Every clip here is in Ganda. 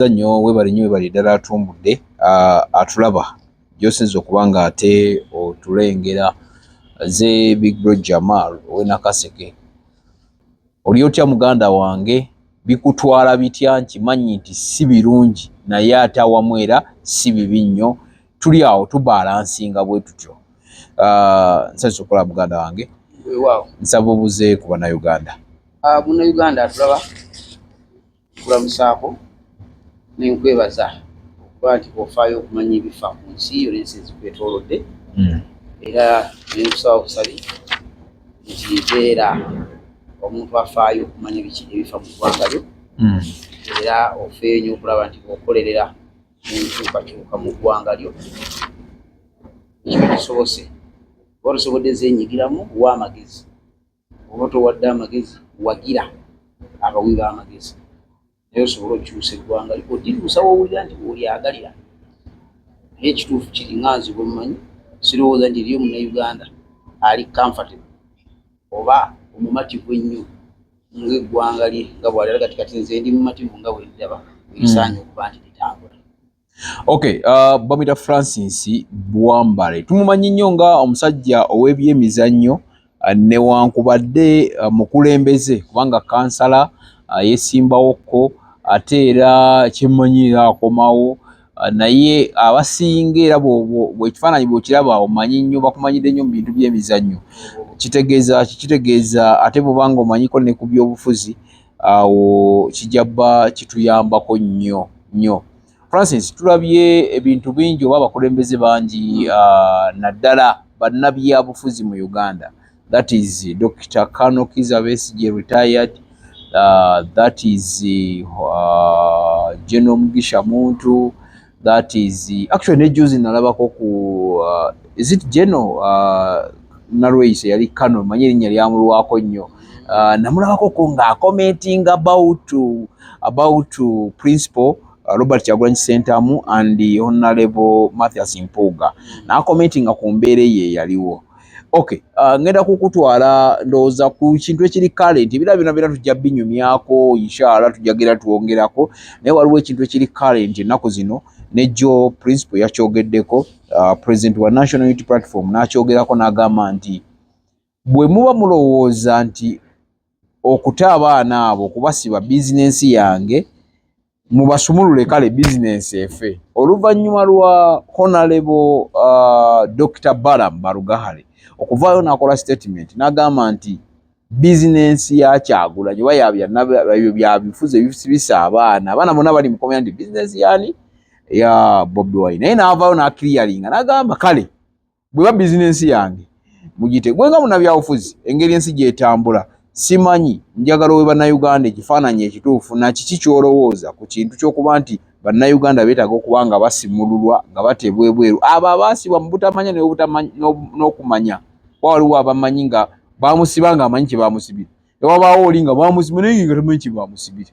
tweyanziza nnyo webale nnyo webale ddala atumbudde atulaba gyosinza okuba nga ate otulengera ze big bro jamal owe nakaseke oli otya muganda wange bikutwala bitya nkimanyi nti si birungi naye ate awamu era si bibi nnyo tuli awo tubalansinga bwe tutyo nsanyusa okukola muganda wange nsaba obuze ku banauganda ah, munauganda atulaba nkulamusaako ne nkwebaza okuba nti ofaayo okumanya ebifa ku nsi yo n'ensi ezikwetoolodde hmm. era ne nkusaba busabi nti beera omuntu afaayo okumanya biki ebifa mu ggwanga lyo hmm. era ofeeyo nyo okulaba nti okolerera enkyukakyuka mu ggwanga lyo ekyo kisobose oba tosobodde zenyigiramu wa amagezi oba towadde amagezi wagira abawi b'amagezi naye osobole okukyusa eggwanga otibuusa wowulira nti olyagalira naye ekituufu kiri nga nze bwemumanyi sirowooza nti eriyo munauganda ali comfortable oba omumativu ennyo ngaeggwanga lye nga bwalira kati kati nze ndi mumativu nga bwendaba erisaanye mm. okuba nti litambula Okay, uh, bamita Francis Bwambare tumumanyi nnyo nga omusajja ow'ebyemizannyo uh, newankubadde uh, mukulembeze kubanga kansala uh, yesimbawokko ate era kyemmanyira akomawo uh, naye abasinga era bwekifaananyi bwekiraba omanyi nnyo bakumanyidde nnyo mu bintu by'emizannyo kitegeeza kikitegeeza ate bwobanga omanyiko ne ku byobufuzi awo kijja bba kituyambako nnyo nnyo francis tulabye ebintu bingi oba abakulembeze bangi uh, naddala bannabyabufuzi mu uganda that is dr cano kiza besige retired uh, that is uh, general mugisha muntu that is actually ne juzi nalabako ku uh, is it geno uh, nalweyise yali kano manye erinnya lyamulwako nnyo uh, namulabako ko nga commenting about about principal uh, robert kyagulanyi sentamu and honorable mathias mpuuga nakomentinga ku mbeera eyo eyaliwo okay uh, ngenda kukutwala ndowooza ku kintu ekiri current ebira byona byona tujja binyumyako inshallah tujagera twongerako naye waliwo ekintu ekiri current ennaku zino nejo principal yakyogeddeko uh, president wa national unity platform nakyogerako nagamba nti bwe muba mulowooza nti okuta abaana abo kubasiba bizinensi yange mubasumulule kale bizinensi efe oluvannyuma lwa honalebo uh, dr balam barugahale okuvaayo nakola statement nagamba nti bizinensi ya kyagulanyi oba yabyo byabifuzi ebisibisa abaana abaana bona bali mukomera nti bizinensi yani ya bobi wine naye navaayo nakiriyalinga nagamba kale bweba bizinensi yange mugitegwe nga munabyabufuzi engeri ensi gyetambula simanyi njagala owe bannayuganda ekifaananyi ekituufu nakiki kyolowooza ku kintu kyokuba nti bannayuganda beetaaga okuba nga basimululwa nga bateebwa ebweru abo abaasibwa mu butamanya n'okumanya kuba waliwo abamanyi nga bamusiba nga amanyi kyebamusibira ewabaawo oli nga bamusiba naye nga tamanyi kyebamusibira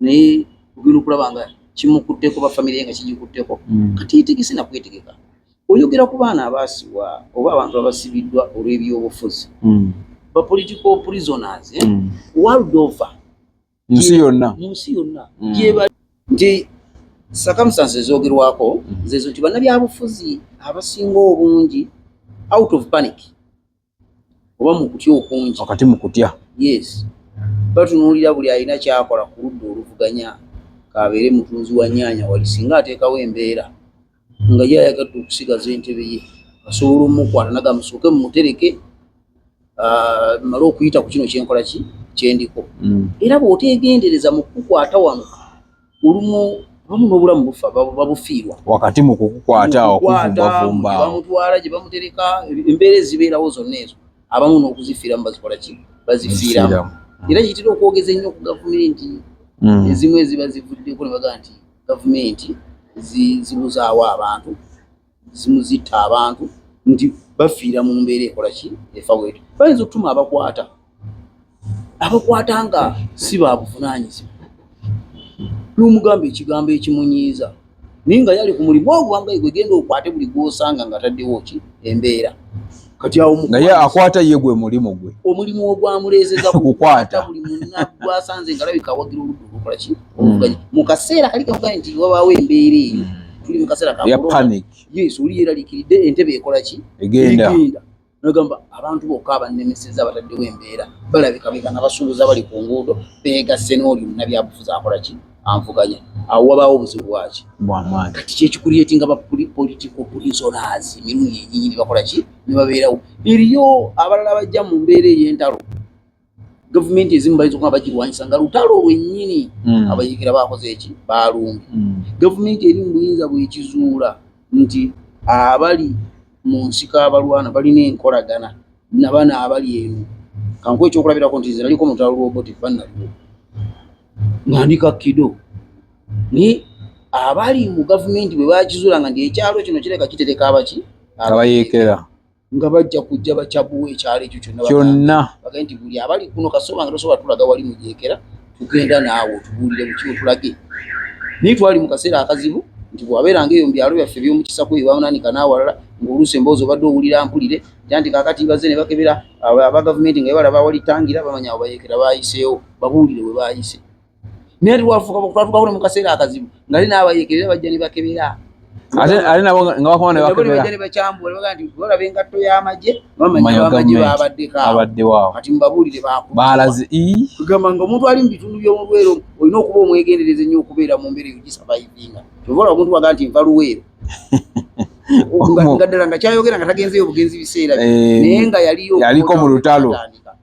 naye ogenda okulaba nga kimukutteko ba famire ye nga kigikutteko mm. kati yitegese nakwetegeka oyogera ku baana abaasibwa oba abantu abasibiddwa olw'ebyobufuzi mm. ba political prisoners eh? mm. world over munsi yonna munsi yonna gyebali nti circumstances ezogerwako zezo nti bannabyabufuzi abasinga obungi out of panic oba mu kutya okungi, wakati mu kutya. Yes. Batunuulira buli alina ky'akola ku ludda oluvuganya k'abeere mutunzi wa nnyaanya wali singa ateekawo embeera nga ye ayagadde okusigaza entebe ye asobola omukwata nagamba musooke mumutereke ah, mmale okuyita ku kino kye nkola ki kye ndiko. Mm. Era bw'oteegendereza mu kukukwata wano olumu bamu n'obulamu bufa babufiirwa wakati mu kukukwata okuvumbavumba bamutwala gye bamutereka embeera ezibeerawo zonna ezo abamu n'okuzifiiramu bazikola ki bazifiiramu era kitera okwogeza ennyo ku gavumenti mm. ezimu eziba zivuddeko ne baga nti gavumenti zibuzaawo abantu zimuzitta abantu nti bafiira mu mbeera ekola ki efa wetu bayinza okutuma abakwata abakwata nga si babuvunanyizibwa nomugamba ekigambo ekimunyiiza naye nga yali ku mulimu ogwangaye gwegenda okwate buli gwosanga nga taddewo ki embeera kati awo naye akwata ye gwe mulimu gwe omulimu ogwamuleezeza kukwata buli munna gwasanze nga labika awagira oludda olukola ki oluvuganya mm. mu kaseera kali kavuga nti wabaawo embeera eyo mm. tuli mu kaseera ka panic yes oli yeeraliikiridde entebe ekola ki egenda nagamba abantu bokka abannemeseza abataddewo embeera balabika beka nga basuubuza bali ku nguudo beegasse n'oli munabyabufuzi akola ki anvuganya awo wabaawo obuzibu bwaki bwamaanyi kati kyekikuliyetinga bapolitical prisoners emirundi enyinyi nebakola ki nebabeerawo eriyo abalala bajja mu mbeera ey'entalo gavumenti ezimu bayinza okuba bagirwanyisa nga lutalo lwennyini hmm. abayigira bakoze eki balumbi hmm. gavumenti eri mu buyinza bwekizuula nti abali mu nsiko abalwana balina enkolagana nabana abali eno kankuwa ekyokulabirako nti nze naliko mutalo lwobotifanaliwo nga ndi ka kido naye abali mu gavumenti bwe bakizuula nga nti ekyalo kino kireka kitereka abaki abayeekera nga bajja kujja bakyabuwa ekyalo ekyo kyonna kyonna bagende nti buli abali kuno kasoba nga tosobola tulaga wali mu gyekera tugenda naawe otubuulire mu kimu tulage naye twali mu kaseera akazibu nti bwabeeranga eyo mu byalo byaffe eby'omukisako eyo bamunanika n'awalala ng'oluusi emboozi obadde owulira mpulire tya nti kaakati bazze ne bakebera aba gavumenti nga balaba awali tangira bamanya awo bayeekera baayiseewo babuulire we baayise naye tiwafuka twatukawo ne mu kaseera akazibu nga li n'abayeekerera bajja ne bakebera ate nabo nga bakoma ne bakebera ne bakyambula baga nti olaba engatto y'amagye bamanya bamagye babaddeko abaddewo awo kati mubabuulire baalaze kugamba nga omuntu ali mu bitundu by'omu lwero olina okuba omwegendereza ennyo okubeera mu mbeera eyo gisavayivinga kyova olaba omuntu waga nti nva luweero nga ddala nga kyayogera nga tagenzeyo obugenzi biseera eh, naye nga yaliyo yaliko mu lutalo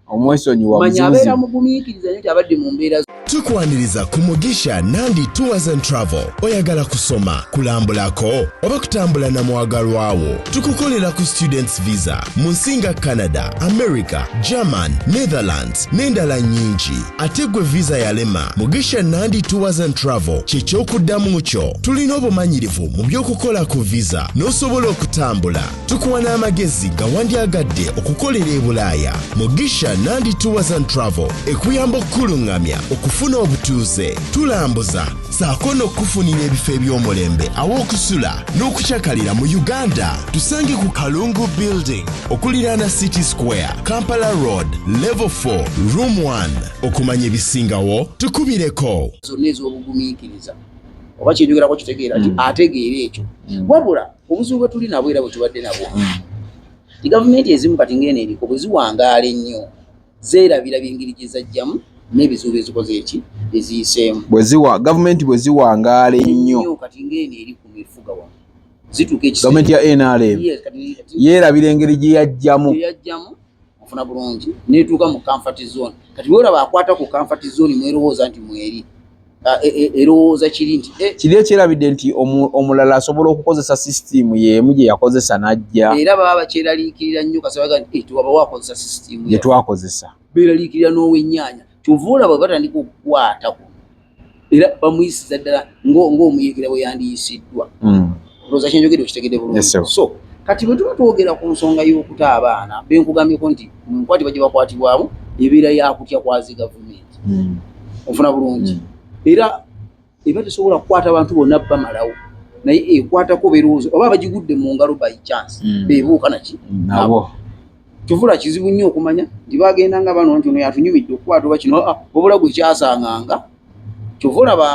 omwesonyiwa manya abeera mugumiikiriza nyo nti abadde mu mbeera tukwaniriza ku mugisha nandi tours and travel oyagala kusoma kulambulako oba kutambula na mwagalwawo tukukolera ku students visa mu nsi nga canada america german netherlands n'endala nyingi ate gwe visa yalema mugisha nandi tours and travel kyekyokuddamu kyo tulina obumanyirivu mu by'okukola ku visa n'osobola okutambula tukuwa n'amagezi nga wandyagadde okukolera e bulaaya mugisha nandi tours and travel ekuyamba okukuluŋŋamya okufuna obutuuze tulambuza saako n'okukufunira ebifo eby'omulembe aw'okusula n'okucakalira mu uganda tusange ku kalungu building okuliraana city square kampala road level 4 room 1 okumanya ebisingawo tukubireko zonna ez'obugumiikiriza oba kyenjogerako kitegeera ti mm. ategeera ekyo mm. wabula obuzibu bwe tuli nabwo era bwe tubadde nabwo mm. ti gavumenti ezimu kati ng'eno eriko bwe ziwangaala ennyo zeerabira byengeri gye zajjamu n'ebizibu bye zikoze eki bye ziyiseemu. Bwe ziwa gavumenti bwe ziwangaala ennyo kati ng'eno eri ku mifuga wano zituuka ekiseera gavumenti ya NRM yeerabira engeri gye yajjamu gye yajjamu ofuna bulungi n'etuuka mu comfort zone kati bw'olaba akwata ku comfort zone mw'erowooza nti mweri Ah, e, e, erowooza kiri nti eh. kiri ekyerabidde nti omulala asobola okukozesa sisitiimu yeemu gye yakozesa n'ajja era baba bakyeraliikirira nnyo kasabaga nti eh, tewaba wakozesa sisitiimu gye twakozesa beeraliikirira n'ow'ennyaanya kyova olaba batandika okukwata ku era bamuyisiza ddala ng'omuyekera bwe yandiyisiddwa hmm. ndoza kyenjogede okitegede bulungi yes, so kati bwe tuba twogera ku nsonga y'okuta abaana be nkugambyeko nti mu nkwati bajja bakwatibwamu ebeera yakutya kwazi gavumenti hmm. ofuna bulungi hmm. era eba tesobola kukwata bantu bonna bamalawo naye ekwatako birowoozo oba bagigudde mu ngalo by chance hmm. bebuuka naki nabo kivula kizibu nnyo okumanya nti bagenda nga bano nti ono yatunyumidde okukwata oba kino ah, wabula gwe kyasanganga kyova olaba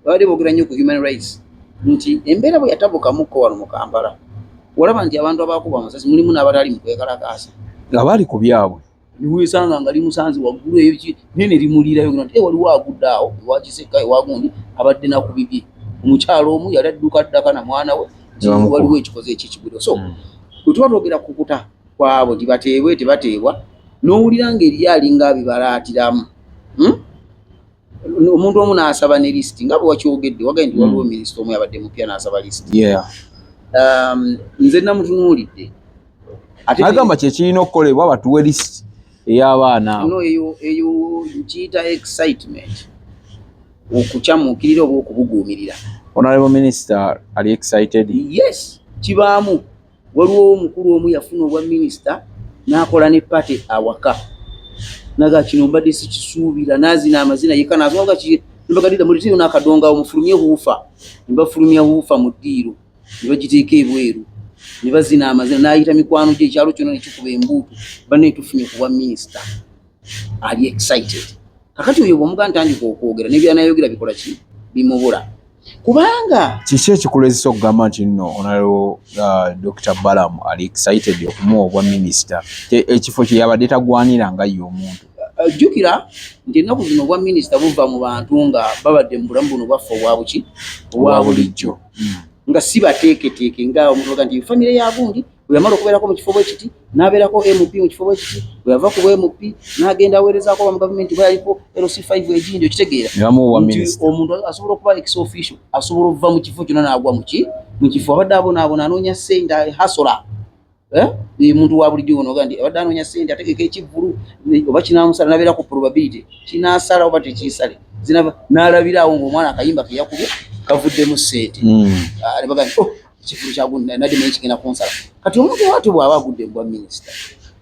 babadde boogera nnyo ku human rights nti embeera bwe yatabukamukko wano mu kampala olaba nti abantu abakuba amasasi mulimu n'abatali mu kwekalakaasa nga bali ku byabwe niwesanga nga limusanze waggulu eyo ki naye ne limuliirayo nti e waliwo agudde awo ewakisekka ewagundi abadde nakubibye omukyalo omu yali adduka ddaka na mwana we waliwo ekikoze ekyekigwiro so mm. bwe tuba twogera kukuta kwabo nti bateebwe tebateebwa n'owulira ng'eriyo alinga abibalaatiramu hmm? omuntu omu n'asaba ne lisiti nga bwewakyogedde wagae nti waliwo hmm. minisita omu yabadde mupya n'asaba lisiti um, nze namutunuulidde agamba kyekirina okukolebwa batuwe lisiti ey'abaana eyo nkiyita excitement okukyamuukirira oba okubuguumirira honorable minister ali excited yes kibaamu waliwo omukulu omu yafuna obwa minisita n'akola ne pate awaka naga kino mbadde sikisuubira nazina amazina yeka nazoga ki mbagadira mu ddiiro n'akadonga omufulumye huufa ne bafulumya huufa mu ddiiro ne bagiteeka ebweru ne bazina amazina n'ayita mikwano gye ekyalo kyona ne kikuba embuutu banne tufunye ku bwa minisita ali excited kakati oyo bwomuga ntandika okwogera nebyanayogera bikola ki bimubula kubanga kiki ekikulezesa okugamba nti no onaleo uh, dr balamu ali excited okumuwa obwa minisita ekifo kyeyabadde tagwanira nga ye omuntu uh, jjukira nti ennaku zino obwa minisita buva mu bantu nga babadde mu bulamu buno bwaffe obwabuki obwa bulijjo hmm. nga si bateeketeeke nga omuntu oga nti famire yagundi bwe yamala okubeerako mu kifo bwe kiti n'abeerako MP mu kifo bwe kiti bwe yava ku bwe MP n'agenda aweerezaako ba mu gavumenti bwe yaliko LC5 egindi okitegeera omuntu asobola okuba ex official asobola okuva mu kifo kyonna n'agwa mu ki mu kifo abadde abonaabona anoonya ssente hasola eh? omuntu wa bulijjo ono oga nti abadde anoonya ssente ategeka ekivvulu oba kinaamusala n'abeera ku probability kinaasala oba tekiisale zinaba n'alabiraawo ng'omwana akayimba ke yakubye kavuddemu ssente hmm. ah, ne baga nti oh, ekifulu kyagunadi naye kigenda kunsala kati omuntu wati bwaba agudde mubwa minisita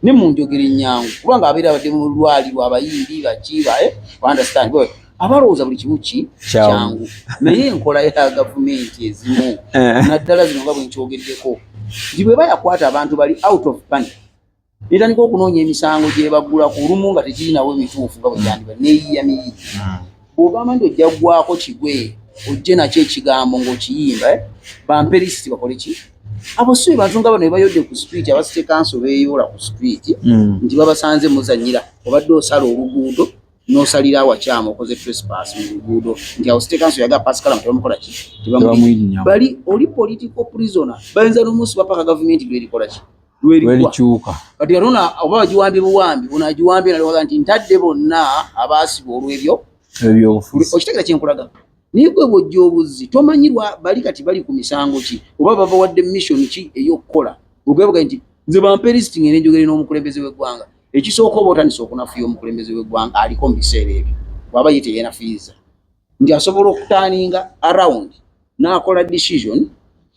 ne munjogera enyangu kubanga abeera abadde mu lwaliro abayimbi bakibae eh, understand abalowooza buli kimu ki kyangu naye enkola ya gavumenti ezimu eh. naddala zino nga bwenkyogeddeko nti bweba yakwata abantu bali out of panic Netandika okunoonya emisango gyebaggula ku lumu nga tekirinawo bituufu nga bweyandiba neyiya miyi hmm. bwogamba nti ojja gwako kigwe ojje nakyo ekigambo ngaokiyimba eh? bampe lisiti bakole ki abo si bantu nga bano bebayodde ku street abasite kanso beyoola ku street hmm. nti babasanze muzanyira obadde osala oluguudo nosalira awakyamu okoze trespass mu luguudo nti awo site kanso yaga pasikala mutebamukola ki tebamuli bali oli political prisoner bayinza nomunsi bapaka gavumenti lwerikola ki lwelikyuka kati katona oba wagiwambye buwambi bona agiwambye nalowooza nti ntadde bonna abaasibwa olwebyo ebyobufuzi okitegera kyenkulaga naye gwe bwojja obuzzi tomanyirwa bali kati bali ku misango ki oba babawadde mission ki ey'okukola ogwebuga nti nze bampa erisiti ngende njogere n'omukulembeze w'eggwanga ekisooka oba otandisa okunafuya omukulembeze w'eggwanga aliko mu biseera ebyo waba ye teyenafuyiza nti asobola okutaninga around nakola decision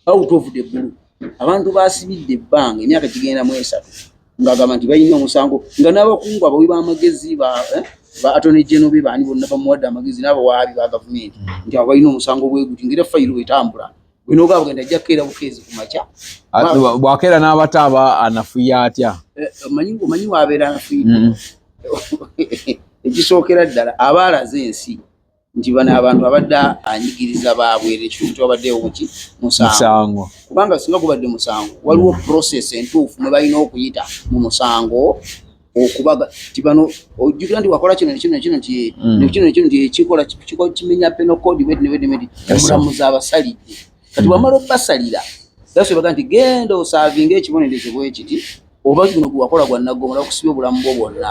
out of the blue abantu basibidde ebbanga emyaka gigenda mu esatu ngagamba nti balina omusango nga n'abakungu abawi b'amagezi ba eh, atone geno be baani bonna bamuwadde amagezi n'abawaabi ba gavumenti nti abo balina omusango bweguti ngaera fayiro bwetambula bino ogaba bugenda ajja kukeera bukeezi ku makya bwakeera n'abata aba anafuya atya eh, omanyi waabeera anafuyidde mm. ekisookera ddala aba alaze ensi nti bano abantu abadde anyigiriza baabwera ekintu kyabaddewoki musango kubanga singa gubadde musango waliwo mm. process entuufu mwe balina okuyita mu musango okubaga nti bano ojjukira nti wakola kino nekino nekino nti mm. nekino nekino nti ekikola kikola kimenya peno kodi weti neweti neweti omulamuzi abasalidde kati wamala mm. okubasalira yasobaga nti genda osaavinga ekibonerezo bwekiti oba guno gwewakola gwa naggomola okusiba obulamu bwo bwonna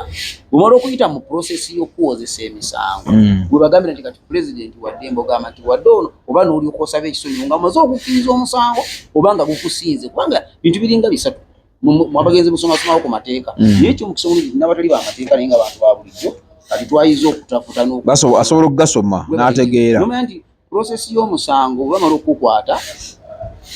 bwemala okuyita mu prosesi y'okuwozesa emisango mm. gwebagambira nti kati pulezidenti wadde mbogamba nti wadde ono oba noolyoka osaba ekisonyiwo nga maze okukkiriza omusango oba nga gukusinze kubanga bintu biringa bisatu mwabagenze musomasomawo ku mateeka mm. naye ekyo mukisa omulungi nabatali bamateeka naye nga bantu ba bulijjo kati twayiza okutafuta asobola okugasoma n'ategeera nomanya nti prosesi y'omusango bwebamala okukukwata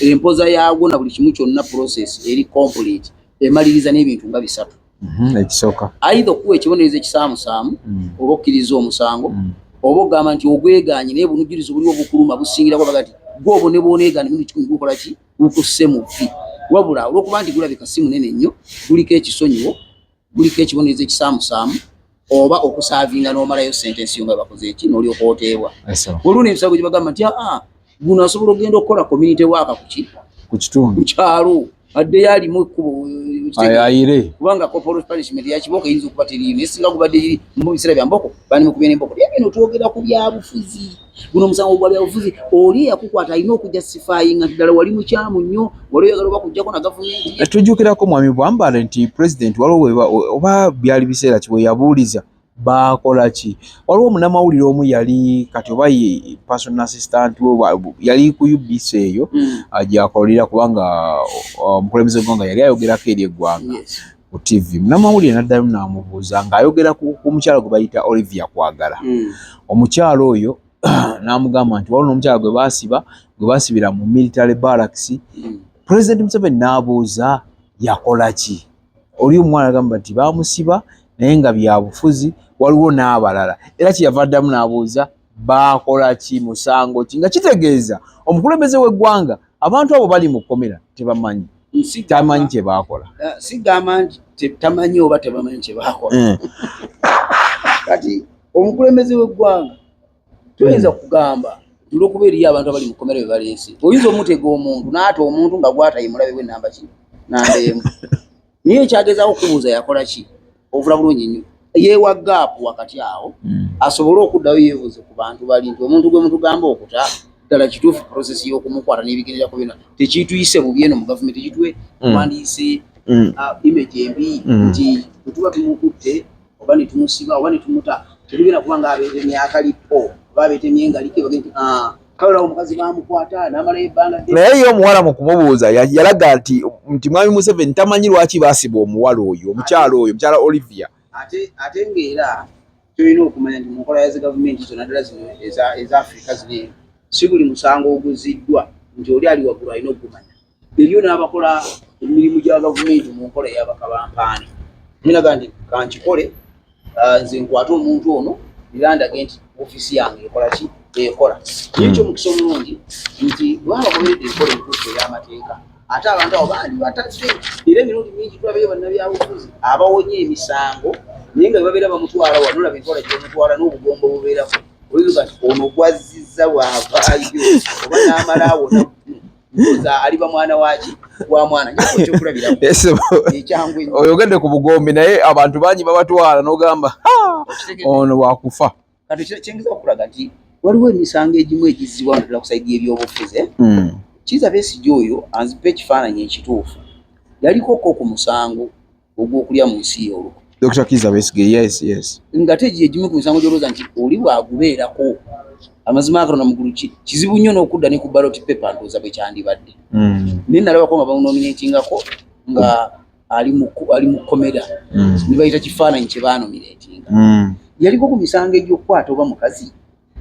empoza yaagwo na buli kimu kyonna prosesi eri complete emaliriza n'ebintu nga bisatu mhm, ekisooka aidha okuwa ekibonerezo ekisaamusaamu mm. oba okkiriza omusango mm. oba ogamba nti ogweganye naye bunujjulizi buliwo bukuluma busingirako baga ti gwe obonebwoneegane munu kikumi gukola ki gukusse mu vvi wabula olwokuba nti gulabika si munene nnyo guliko ekisonyiwo guliko ekibonerezo ekisaamusaamu oba okusaavinga n'omalayo sentensi yo nga bakoze eki n'olyoka oteebwa olwo nebisago gye bagamba nti aa guno asobola okugenda okukola community waaka kuki ku kitundu ku kyalo addeyo alimu ekkubo ayire kubanga corporal punishment ya kibooko eyinza okuba teriyo naye singa gubadde mu biseera bya mboko bandi mukubye n'emboko bye bino twogera ku byabufuzi guno omusango gwa byabufuzi oli eyakukwata alina okujja sifaayi nga ddala wali mukyamu nnyo wali oyagala oba kujjako na gavumenti eh, tujjukirako mwami bwambale nti pulezidenti waliwo weba oba byali biseera kiwe yabuuliza baakola ki waliwo munamawulire omu yali kati oba person assistant yali ku ubc eyo hmm. gyakolera kubanga omukulembeze gwanga yali ayogerako eri eggwanga ku TV munamawulire naddayo namubuuza ng'ayogera ku mukyala gwe bayita Olivia Kwagala hmm. omukyala oyo n'amugamba nti waliwo n'omukyala gwe baasiba gwe baasibira mu military barracks hmm. president Museveni n'abuuza yakola ki oli omwana agamba nti baamusiba naye nga byabufuzi waliwo n'abalala era kyeyava addamu n'abuuza baakola ki musango ki nga kitegeeza omukulembeze w'eggwanga abantu abo bali mu kkomera tebamanyi tamanyi kye baakola eh, sigamba nti tamanyi oba tebamanyi kye baakola eh. kati omukulembeze w'eggwanga toyinza hmm. kugamba olwokuba eriyo abantu abali mu kkomera be baleese oyinza omutega omuntu naata omuntu nga gwatayimulabe we namba kino namba emu naye ekyagezaako okubuuza yakola ki ovula bulungi nnyo yeewa gaapu wakati awo hmm. asobole okuddayo yeebuuze ku bantu bali nti omuntu gwe mutugamba okuta ddala kituufu prosesi y'okumukwata n'ebigenderako byona tekiituyise bubi eno mu gavumenti kitwe hmm. twandiyise hmm. uh, image embi nti bwetuba tumukutte oba ne tumusiba oba ne tumuta tebigenda kuba ng'abeetemye akalipo oba abeetemye engalike bagenti ah, kawulawo omukazi baamukwata n'amalayo ebbanga naye ye omuwala mu kumubuuza yalaga nti nti mwami museveni tamanyi lwaki baasiba omuwala oyo omukyala oyo omukyala olivia ate ate ng'era tulina okumanya nti mu nkola ya zi gavumenti zona ddala zino eza afirika zino eno si buli musango oguziddwa nti oli ali waggulu alina okugumanya ebyo n'abakola emirimu gya gavumenti mu nkola eyabakabampaane ninaga nti kankikole ah, nze nkwate omuntu ono era ndage nti ofiisi yange ekola ki ekola hmm. ekyo omukisa omulungi nti bwabakomeredde enkola entuufu ey'amateeka ate abantu abo bandi batadde era emirundi mingi tulabayo bannabyabufuzi abawonye emisango naye nga bebabeera bamutwala wano olaba enkola gyebamutwala n'obugombo bubeerako oiga nti ono gwazziza bwavaayo oba n'amala awona aliba mwana waki wa mwana oyogedde ku bugombi naye abantu bangi babatwala nogamba ono wakufa waliwo emisango egimu egizzibwa naddala kusaidi ebyobufuze hmm. kiza besigi oyo anzipa ekifaananyi ekituufu yalikoko ku musango ogw'okulya mu nsi y'oluko Dr. Kiza Besige yes yes ngate gye gimu ku misango gy'olowooza nti oli bwagubeerako amazima agano namugulu ki kizibu nnyo n'okudda ne ku ballot paper ndowooza bwe kyandibadde mm. naye nalabako nga bamunominatingako nga ali mu ali mu komera mm. ne bayita kifaananyi kye baanominatinga mm. yaliko ku misango egy'okukwata oba mukazi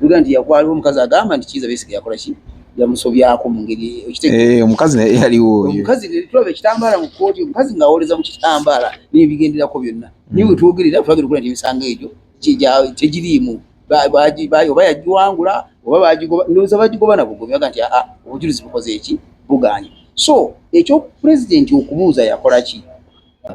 Uganda nti yakuba aliwo omukazi agamba nti kiiza besiga yakola ki yamusobyako mu ngeri eh, omukazi naye yaliwo omukazi tulaba ekitambaala mu kkooti omukazi ng'awoleza mu kitambaala n'ebigenderako byonna hmm. naye wetwogerera tulagera okulaba nti emisango egyo tegiriimu oba yagiwangula oba bagigoba ndowooza bagigoba nabugobi baga nti aa obujulizi bukoze eki buganye so ekyopulezidenti okubuuza yakola ki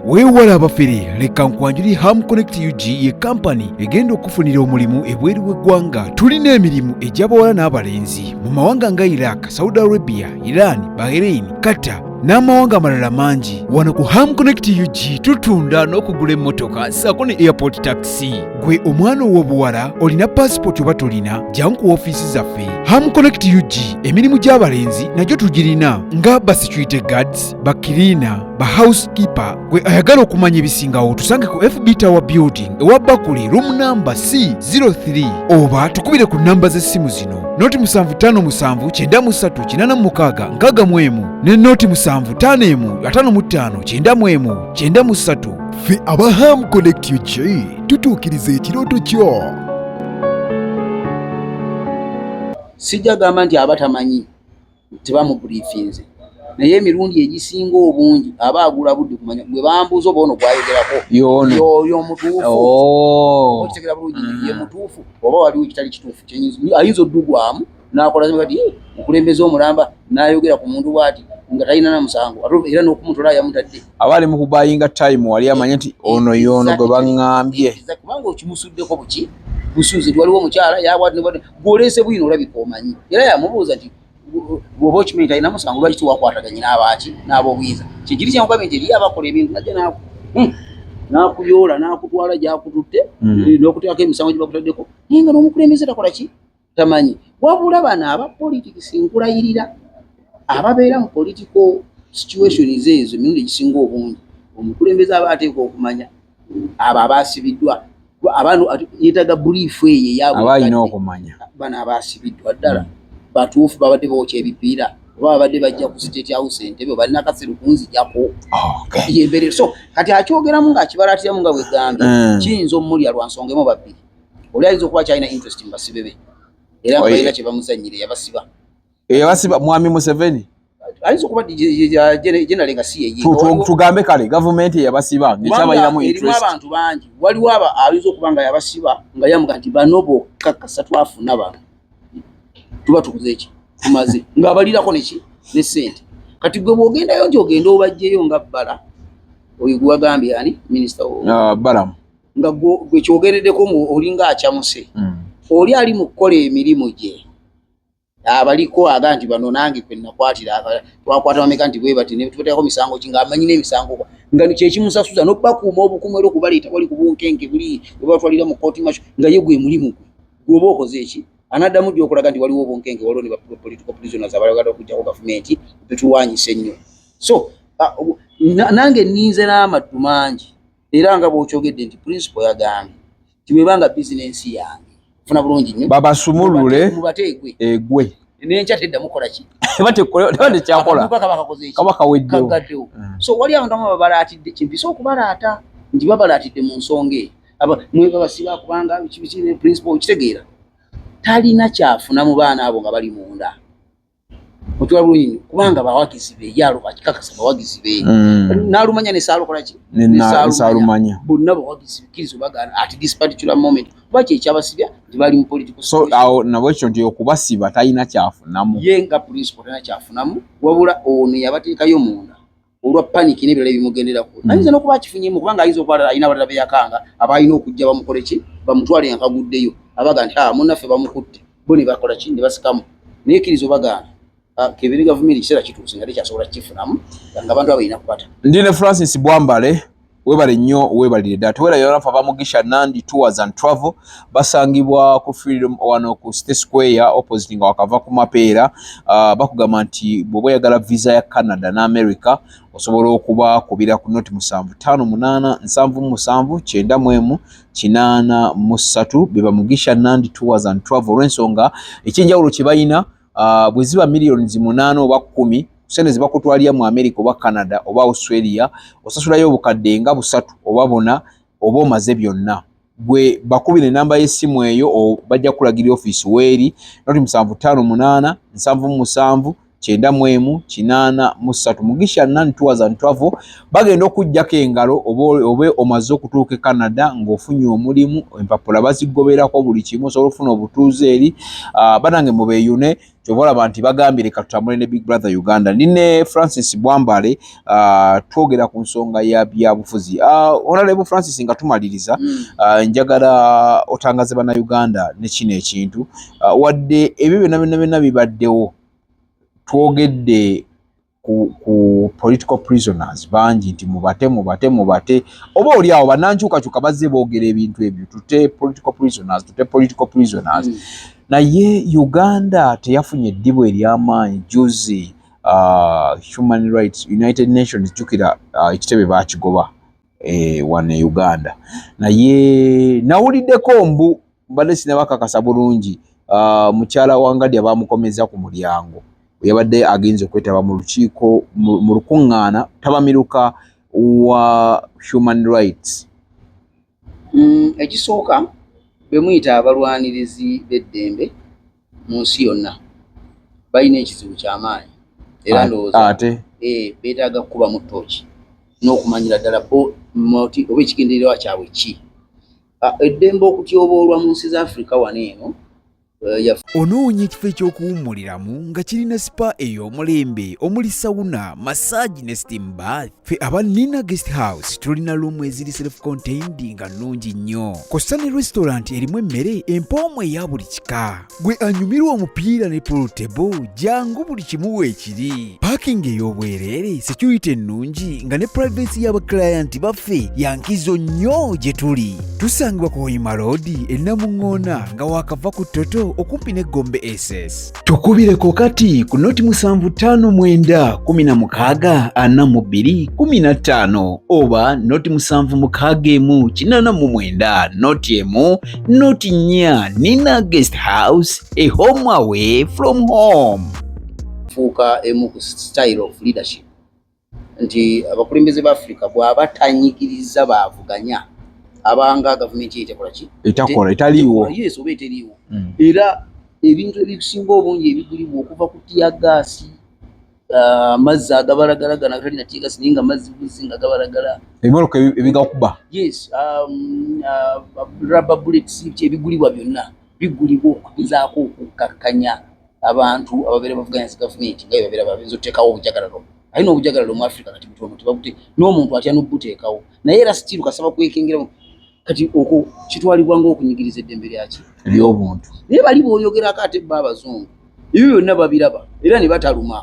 weewala abafere leka nkwanjuli ham connect ug ye kampani egenda okufunira omulimu ebweru w'eggwanga tulina emirimu egy'abawala n'abalenzi mu mawanga nga iraq saudi arabia iran bahrain qatar n'amawanga amalala mangi wano ku ham connect ug tutunda n'okugula emmotoka saako ne airport taxi gwe omwana ow'obuwala olina paasipooti oba tolina jangu ku ofiisi zaffe ham connect ug emirimu gy'abalenzi nagyo tugirina nga basecurity guards bakiriina ba housekeeper gwe ayagala okumanya ebisingawo tusange ku fb tower building ewa bakuli room number c 03 oba tukubire ku namba z'essimu zino noti 755936 ne noti 75159593 fe aba ham connect ug tutuukiriza ekirooto kyo sijja gamba nti abatamanyi tebamubrifinze naye emirundi egisinga obungi aba agula budde kumanya gwe bambuuza oba ono gwayogerako yoyo omutuufuokitegera oh. bulungi mm. ye mutuufu oba waliwo ekitali kituufu ayinza oddugwamu nakola kati eh, okulembeza omulamba nayogera ku muntu bwati nga talina na musango era n'okumutola yamutadde aba ali mukubayinga time wali amanye nti ono yoono gwe baŋŋambye kubanga okimusuddeko buki busuuzi nti waliwo omukyala yabwati gwoleese bwino olabika omanyi era yamubuuza nti bwoba okimanyi talina musango lwaki tiwakwataganye n'abaaki n'abobuyinza kyekiri kyankugambye nti eriyo abakola ebintu najja naaku hmm. nakuyoola nakutwala gyakututte mm. eh, nokuteekako emisango gyebakutaddeko naye nga nomukulembeze takola ki tamanyi wabula bano aba politics nkulayirira ababeera mu political situations ezo emirundi egisinga obungi omukulembeze aba ateeka okumanya abo abaasibiddwa abantu yetaga buliifu eyo eyabalina okumanya bano abaasibiddwa ddala hmm. batuufu babadde bookya ebipiira oba babadde bajja ku state house entebe oba alina kasiru kunzijako yembere so kati akyogeramu ng'akibalatiramu nga bwegambye hmm. kiyinza omulya lwa nsonga emu babbiri oli ayinza okuba kyalina interest mu basibe be era nga balina kye bamuzannyire yabasiba eyabasiba eh, mwami museveni ayinza okuba jenale nga si yeye tugambe kale gavumenti eyabasiba ngekyabayiramu erimu abantu bangi waliwo aba ayinza okuba nga yabasiba nga yamuga nti bano bokka kasa twafuna bano tuba tukuze eki tumaze ngaabalirako neki ne sente kati gwe bwogendayo nti ogende obajjeyo nga bbala oyo gwewagambye ani minisita ah, balamu nga gwe kyogereddeko olinga acamuse hmm. oli ali mu kukola emirimu gye abaliko aga nti bano nange kwe nakwatira twakwata bameka nti bwe bati netubateekako misango ki ng'amanyi n'emisango nga kyekimusasuza nobakuuma obukumu era okubaleeta wali ku bunkenke buli webatwalira mu kooti maco nga ye gwe mulimu gwe gwoba okoze eki anaddamu dy okulaga nti waliwo obunkenke waliwo ne bapolitical prisoners abalagala okujjako gavumenti betulwanyisa ennyo so nange ninze n'amaddu mangi era nga bwokyogedde nti principal yagambye tibwebanga business yange funa bulungi nyo baba sumulule mubategwe egwe nenja tedda mukola ki bate kola bate kya kola kaba kakoze ki kaba kawedde kagadde mm. so wali abantu baba balatidde kimpi so kubalata ndi baba balatidde mu nsonge aba mwe baba siba kubanga kibizire principle kitegeera talina kyafuna mu baana abo nga bali munda okiwa bulungi nnyo kubanga bawagizi be ye aluba akikakasa bawagizi be mm. n'alumanya ne saalukola ki nesaalumanya bonna bawagizi bekkiriza obagaana at this particular moment kuba kye ekyabasibya nti bali mu political so awo nabo ekyo nti okubasiba talina kyafunamu ye nga principal talina kyafunamu wabula ono yabateekayo munda olwa panic n'ebirala ebimugenderako mm. ayinza n'okuba akifunyemu kubanga ayinza okuba alina abalala beyakanga abaalina okujja bamukole ki bamutwale nga kaguddeyo abaga nti ah, munaffe bamukutte bo ne bakola ki ne basikamu naye kiriza obagaana ah, kebere gavumenti ekiseera kituuse nga tekyasobola kikifunamu nga abantu abalina kukwata ndi ne francis bwambale webale nnyo webalire ddala tewerayola nfa bamugisha nandi tours and travel basangibwa ku freedom wano ku city square opposite nga wakava ku mapeera uh, bakugamba nti bwoba oyagala visa ya canada ne america osobola okuba kubira ku noti musanvu tano munana nsanvu musanvu kyenda mwemu kinana musatu bebamugisha nandi tours and travel olwensonga ekyenjawulo kyebalina uh, bwe ziba millions munaana oba kkumi sente zibakutwalira mu america oba canada oba australia osasulayo obukadde nga busatu oba bona oba omaze byonna gwe bakubira enamba y'essimu eyo bajja kulagira ofiisi weeri noti musanvu ttaano munaana nsanvu musanvu kyenda mu emu kinaana mu ssatu mugisha nan tours and travel bagenda okujjako engalo oba omaze okutuuka e canada ng'ofunye omulimu empapula bazigoberako buli kimu osobola okufuna obutuuze eri ah, banange mubeyune kyova olaba nti bagambye leka tutambule ne big brother uganda ndi ne francis bwambale uh, twogera ku nsonga ya byabufuzi uh, ah, onalebo francis nga tumaliriza uh, njagala otangaze bana uganda nekino ekintu uh, wadde ebyo byona byona byona bibaddewo twogedde ku, ku political prisoners bangi nti mubate mubate mubate oba oli awo banankyukakyuka bazze boogera ebintu ebyo tute political prisoners tute political prisoners mm. naye uganda teyafunye eddibu eryamaanyi juzi uh, human rights united nations jukira uh, ekitebe bakigoba eh, wane uganda naye nawuliddeko mbu mbadde sinabakakasa bulungi ah, mukyala wa ngadya bamukomeza ku mulyango yabadde agenza okwetaba mu lukiiko mu lukuŋŋaana tabamiruka wa human rights mm, ekisooka bemuyita abalwanirizi b'eddembe mu nsi yonna balina ekizibu kyamaanyi era ndowooza ate eh, beetaaga kukuba mu tooki n'okumanyira ddala bo moti oba ekigendererwa kyabwe ki Ah, eddembe okutyoboolwa mu nsi za afrika wano eno eh, onoonya ekifo eky'okuwummuliramu nga kirina sipa ey'omulembe omuli sawuna massage ne steam bath fe aba nina guest house tulina luumu eziri self contained nga nnungi nnyo kossa ne restaurant erimu emmere empoomu eya buli kika gwe anyumirwa omupiira ne polutebo jangu buli kimu weekiri paakingi ey'obwereere security ennungi nga ne purayivensi y'abakilayanti baffe yankizo nnyo gye tuli tusangibwa ku hoima roodi ennamuŋŋoona nga waakava ku toto okumpi ne gombe ss tukubireko kati ku noti musanvu ttaano mwenda kumi na mukaaga ana mu bbiri kumi na ttaano oba noti musanvu mukaaga emu kinaana mu mwenda noti emu not near Nina guest house, a home away from home. Fuuka emu ku style of leadership nti abakulembeze ba Africa bw'aba tanyigiriza baavuganya abanga gavumenti etekola ki etakola etaliiwo yes oba eteriiwo mm. era ebintu ebisinga obungi ebigulibwa okuva ku tiyagaasi Ah, amazzi agabalagala gana gatali nateeka sini nga mazzi buzzi nga gabalagala ebimoloka ebigakuba yes um, uh, rubber bullets ebigulibwa byonna bigulibwa okugezaako okukkakkanya abantu ababeera bavuganya zi gavumenti nga bebabeera babeeza oteekawo obujagalalo aye n'obujagalalo mu africa kati butono tebabute n'omuntu atya nobuteekawo naye era sitiru kasaba kwekengeramu kati okwo kitwalibwa ng'okunyigiriza eddembe lyaki ly'obuntu naye bali booyogerako ate bba abazungu ebyo byonna babiraba era ne bataluma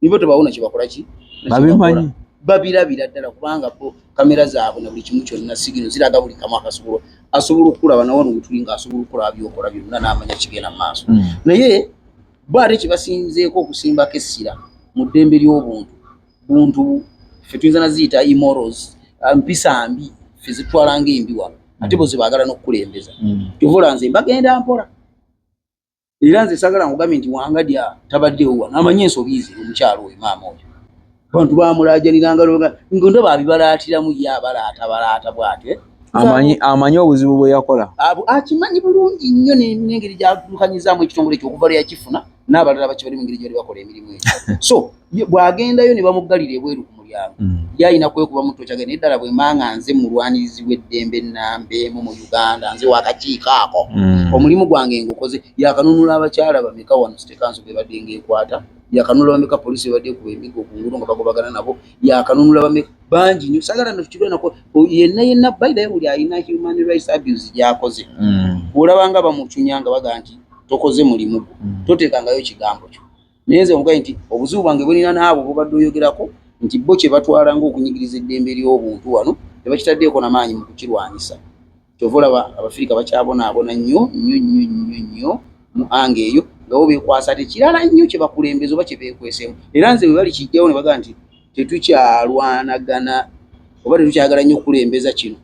nibo tebawona kye bakola ki babimanyi babirabira ddala kubanga bo kamera zaabwe na buli kimu kyonna sigino ziraga buli kamu akasobola asobola okukulaba nawano wetuli nga asobola okukulaba byokola byonna n'amanya kigenda mu maaso hmm. naye bo ate kye basinzeeko okusimbako essira mu ddembe ly'obuntu buntu ffe tuyinza naziyita imorals ah, mpisa mbi ffe zitwala nga embi wano ate bozi bagala nokukulembeza kyovola nze mbagenda mpola era nze sagala nkugambye nti wangadya tabaddewo wano amanyi ensobi ze omukyalo oyo maama oyo abantu bamulajaniranga nga ndaba abibalaatiramu ye abalaata balaata bwatyo eh? amanyi amanyi obuzibu bwe yakola akimanyi bulungi nnyo nengeri gyadukanyizamu ekitongole ekyo okuva lwe yakifuna n'abalala baki bali mu ngeri gyebali bakola emirimu egyo so bw'agendayo ne bamuggalira ebweru ku mulyango mm. ye alina kwekuba mu ttoca genda eddala bwe manga nze mulwanirizi w'eddembe nnamba emu mu uganda nze wakakiiko ako mm. omulimu gwange ngukoze yakanunula abakyala bameka wano sitekanso bebadde ngaekwata yakanunula bameka poliisi bebadde kuba emigo ku ngudo nga bagobagana nabo yakanunula bameka bangi nyo sagala nokikirwenako yenna yenna bayidayo buli alina human rights abuse gyakoze mm. olabanga bamucunya nga baga nti tokoze mulimu gwo mm. toteekangayo kigambo kyo naye nze omugaye nti obuzibu bwange bulina n'abo bubadde oyogerako nti bo kye batwala ng'okunyigiriza eddembe ly'obuntu wano ne bakitaddeeko na maanyi mu kukirwanyisa kyova olaba abafirika bakyabonaabona nnyo nnyo nnyo nnyo nnyo mu anga eyo nga bo beekwasa tekirala nnyo kye bakulembeza oba kye beekweseemu era nze bwe bali kijjawo ne bagamba nti tetukyalwanagana oba tetukyagala nnyo okukulembeza kino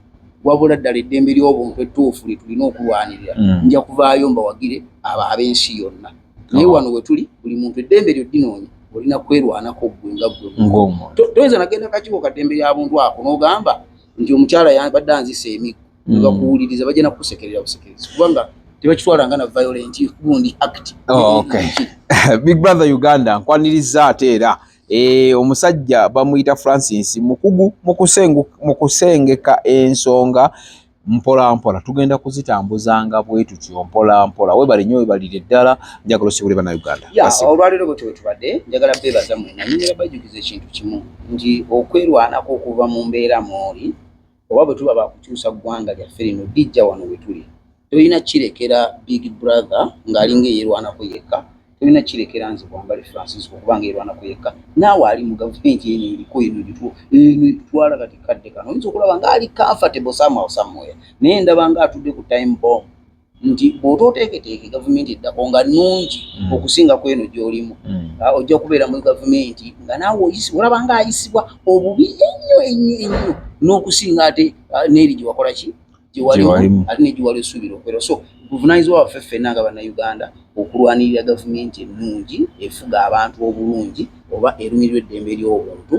wabula ddala eddembe ly'obuntu ettuufu lye tulina okulwanirira mm. nja kuvaayo mbawagire abo ab'ensi yonna naye oh. wano we tuli buli muntu eddembe lyo ddinoonya olina kwerwanako ggwe nga ggwe toyinza nagenda kakiwo kaddembe lya buntu ako n'ogamba nti omukyala yabadde anzisa emiggo mm. nebakuwuliriza bajja nakukusekerera busekerezi kubanga tebakitwala nga na violent gundi act oh, big brother uganda nkwaniriza ate era E, omusajja bamuyita Francis mukugu mu kusengeka ensonga mpolampola tugenda kuzitambuzanga bwetutyo mpolampola webale nyo webalire ddala njagala osibule banauganda olwaliro bwetyo wetubadde njagala bebaza mwena nyumira bajukiza ekintu kimu nti okwerwanako okuva mu mbeera mwoli oba bwe tuba baakukyusa ggwanga lyaffe lino lijja wano we tuli tolina kirekera big brother ng'ali ng'eyerwanako yekka tolina kirekera nze bwambale francis okuba ng'erwanako yekka naawe ali mu gavumenti eno eriko eno gitwo eno etutwala kati kadde kano oyinza okulaba ng'ali comfortable somehow somewhere naye ndaba ng'atudde ku time bomb nti bw'oba oteeketeeke gavumenti eddako nga nnungi mm. okusinga ku eno gy'olimu mm. ah, ojja kubeera muri gavumenti nga naawe oyisibwa olaba nga ayisibwa obubi ennyo ennyo ennyo n'okusinga ate ah, n'eri gye wakola ki gye walimu ate ne gye wali osuubira okubeera so buvunaanyizibwa waffe ffenna nga bannayuganda okulwanirira gavumenti ennungi efuga abantu obulungi oba erumirirwa eddembe ly'obuntu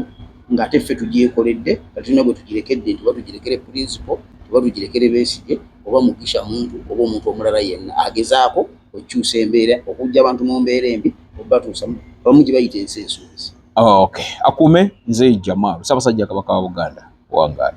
ng'ate ffe tugyekoledde nga tulina gwe tugirekedde nti oba tugirekere purinsipo oba Tugirekere Besigye oba Mugisha Muntu oba omuntu omulala yenna agezaako okukyusa embeera, okuggya abantu mu mbeera embi okubatuusa abamu gye bayita ensi ensuubize. Oh, okay. Akuume nze Jamal Ssaabasajja Kabaka wa Buganda wangaala.